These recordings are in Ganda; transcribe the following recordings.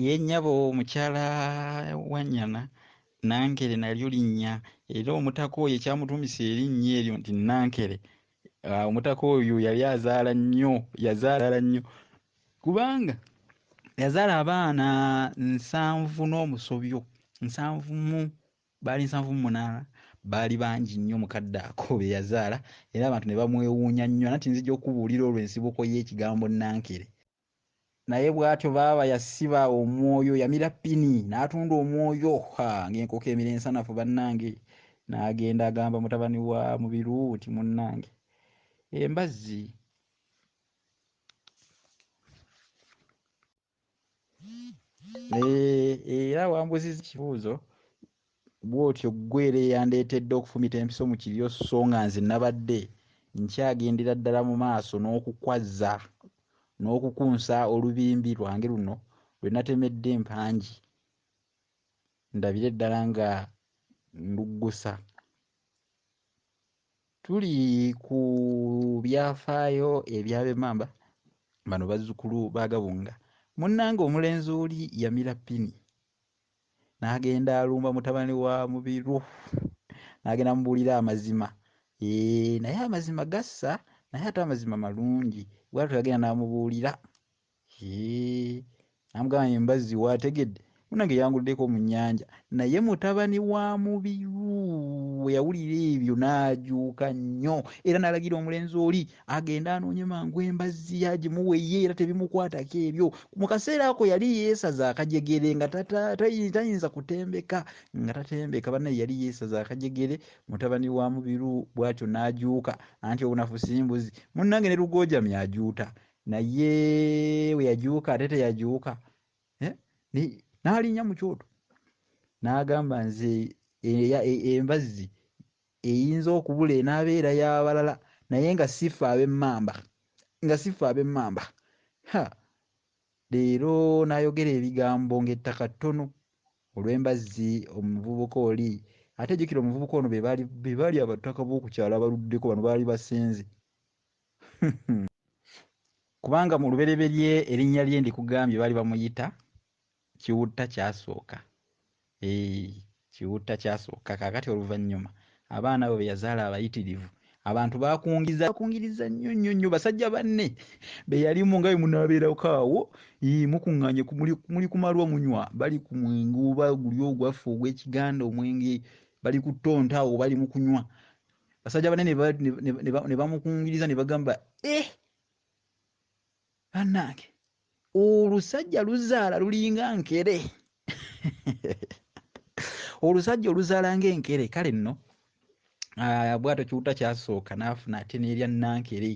ye nnyabo mukyala wanyana nankere nalyo linnya era omutaka oyo ekyamutumisa erinnya eryo nti nankere ah, omutaka oyo yali azaala nnyo yazaala nnyo kubanga yazaala abaana nsanvu n'omusobyo nsanvu mu baali nsanvu mu munaana baali bangi nnyo mukadde ako be yazaala era abantu ne bamwewuunya nnyo nanti nzija okubuulira olwo ensibuko y'ekigambo nankere naye bwatyo baaba yasiba omwoyo yamira pini natunda omwoyo ha ngaenkoko emira ensanafu bannange nagenda agamba mutabani wa mubiru nti munnange embazzi eh, era wambuziza ekibuuzo bw'otyo ggwe era eyandeetedde okufumita empiso mu kiryo sso nga nze nabadde nkyagendera ddala mu maaso n'okukwazza n'okukunsa olubimbi lwange luno lwe natemedde empangi ndabire ddala nga nduggusa. Tuli ku byafaayo eby'abemmamba bano bazzukulu ba Gabunga. Munnange omulenzi oli yamira ppini. n'agenda alumba mutabani wa mubiru n'agenda mubuulira amazima ee naye amazima gassa naye ate amazima malungi bwatyo yagenda n'amubuulira ee namugamba nti mbazzi waategedde munange yanguddeko mu nnyanja naye mutabani wa mubiru bwe yawulira ebyo n'ajuuka nnyo era n'alagira omulenzi oli agenda anoonye mangu embazzi agimuwa ye era tebimukwatako ebyo mu kaseera ako yali yeesaza akajegere nga tayinza kutembeka nga tatembeka banaye yali yeesaza akajegere mutabani wa mubiru bwatyo n'ajuuka anti obunafu simbuzi munnange ne lugoojami ajuuta naye we yajuuka ate teyajuuka eh? n'alinnya mu kyoto n'agamba nze e, e, embazzi Eyinza okubula enaaba era y'abalala naye nga si ffe ab'emmamba, nga si ffe ab'emmamba. Ha! Leero n'ayogera ebigambo ng'ettaka ttono olw'embazzi omuvubuka oli. Ate jjukira omuvubuka ono be baali, be baali abataka b'oku kyalo abaluddeko, bano baali basenze. Kubanga mu lubereberye erinnya lye ndikugambye baali bamuyita Kiwutta kyasooka. Eeh Kiwutta kyasooka. Kaakati oluvannyuma abaana abo be yazaala abayitirivu abantu bakungiza bakungiriza nnyo nnyo nnyo basajja banne be yalimu nga bwe munaabeerako awo ii mukuŋŋaanye ku- muli muli ku malwa munywa bali ku mwenge oba guli ogwaffe ogw'ekiganda omwenge bali ku ttonta awo bali mu kunywa basajja banne ne ba- ne- ne- ne ba- ne bamukungiriza ne bagamba eh banange olusajja luzaala lulinga nkere olusajja oluzaala nga enkere kale nno ah, bwato kiwuta kyasooka naafuna ate nerya nankere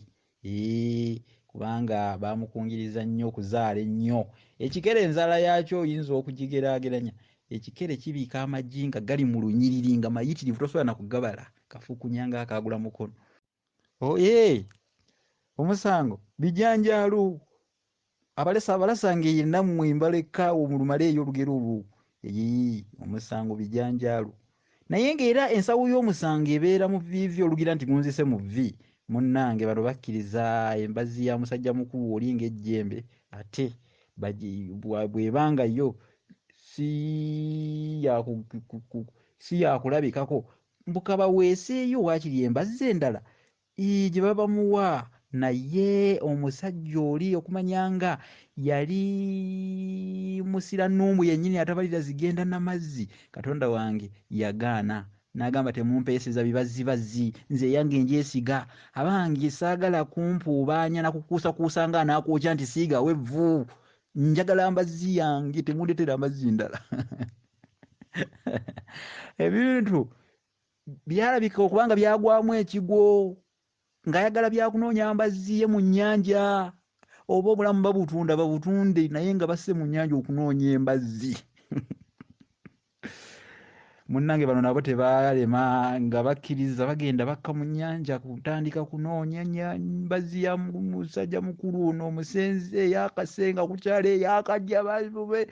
kubanga bamukungiriza nnyo okuzaala ennyo ekikere enzaala yaakyo oyinza okugigerageranya ekikere kibiika amagi nga gali mu lunyiriri nga mayitirivu tosobola nakugabala kafukunya nga akagula mukono oye omusango bijanjalo abalesa abalasa ngeye nammwe mbaleka awo mulumale eyo olugero olwo eyi omusango bijanjalo naye ngaera ensawo y'omusango ebeera mu vivi olugira nti gunzise mu vi munnange bano bakkiriza embazi ya musajja mukulu oli ng'ejjembe ate bwebanga yo si yakulabikako mbu kabaweeseeyo waakiri embazzi endala ii gye baba bamuwa naye omusajja oli okumanya nga yali musiranuumu yennyini atabalira zigenda na mazzi katonda wange yagaana n'agamba temumpeeseza bibazzibazzi nze eyange ngyesiga abange saagala kumpuubaanya na kukuusakuusa nga anaakwokya nti siigawo evvu njagala mbazzi yange temundetera mbazzi ndala ebintu byalabika okubanga byagwamu ekigwo ng'ayagala byakunoonya mbazzi ye mu nnyanja oba obulamu babutunda babutunde naye nga basse mu nnyanja okunoonya embazzi munnange bano nabo tebaalema nga bakkiriza bagenda bakka mu nnyanja kutandika kunoonya mbazzi ya musajja mukulu ono omusenzi eyakase nga kukyalo eyakajja babe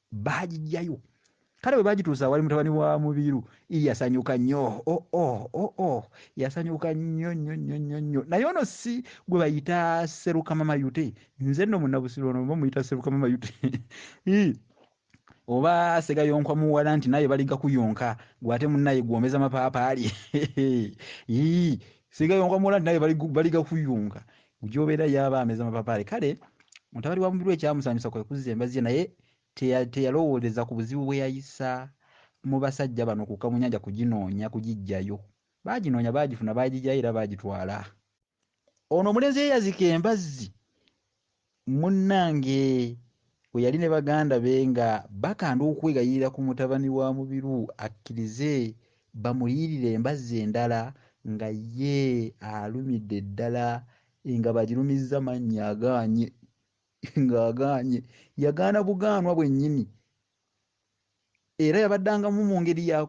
baagijjayo kale bwe bagituusa wali mutabani wa mubiru yasanyuka nnyo oh, oh, oh, oh. yasanyuka nnyo nnyo nnyo nnyo nnyo naye ono si gwe bayita serukama mayute nze nno munabusiro ono oba muyita serukama mayute Ii. oba segayonkwa muwala nti naye baliga kuyonka gwate munaye gwomeza mapaapaali Ii. segayonkwa muwala nti naye baliga- baliga kuyonka Mugyobera ye aba ameza mapapaali. Kale mutabani wa Mubiru ekyamusanyusa kwe kuzza embazzi ye naye teya- teyalowooleza ku buzibu bwe yayisa mu basajja bano okukka mu nnyanja kuginoonya kugiggyayo. Baaginoonya baagifuna, baagigyayo era baagitwala. Ono omulenzi ye yazika embazzi munnange we yali ne baganda be nga bakanda okwegayirira ku mutabani wa Mubiru akkirize Bamuliyirire embazzi endala nga ye alumidde ddala nga bagirumizza mannya agaanye ng'agaanye yagaana bugaanwa bwennyini era yabaddangamu mu ngeri ya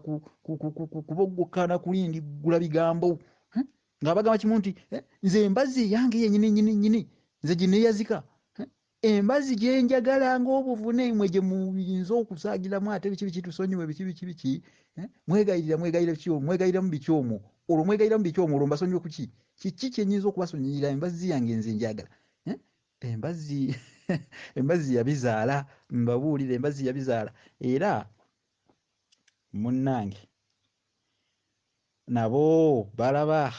kuboggokana kulindiggula bigambo hmm? ng'abagamba kimu nti eh, nze embazzi eyange yennyini nyini nyini nze gineeyazika hmm? embazi gyenjagala ng'obuvune mwe gye muyinza okusaagiramu ate biki biki tusonyiwe biki biki biki eh? mwegayirira mwegayira ki mwegayiramu biki omwo olwo mwegayiramu biki omwo olwo mbasonyiwe kuki kiki kyenyinza okubasonyiyira embazzi yange nze njagala eh? embazzi embazzi yabizaala mbabuulire embazzi yabizaala era munnange nabo balaba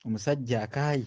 omusajja akaaye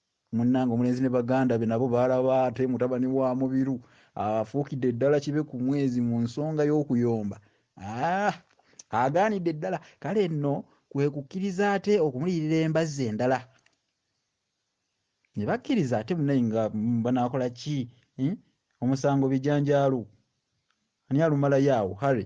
Munnange omulenzi ne baganda be nabo baalaba ate mutabani wa Mubiru afuukidde ddala kibe ku mwezi mu nsonga y'okuyomba. Ah! Agaanidde ddala kale nno kwe kukkiriza ate okumuliyirira embazzi endala. Ne bakkiriza ate munaye nga banaakola ki? Hmm? Omusango bijanjaalo. Ani alumalayo awo? Harry.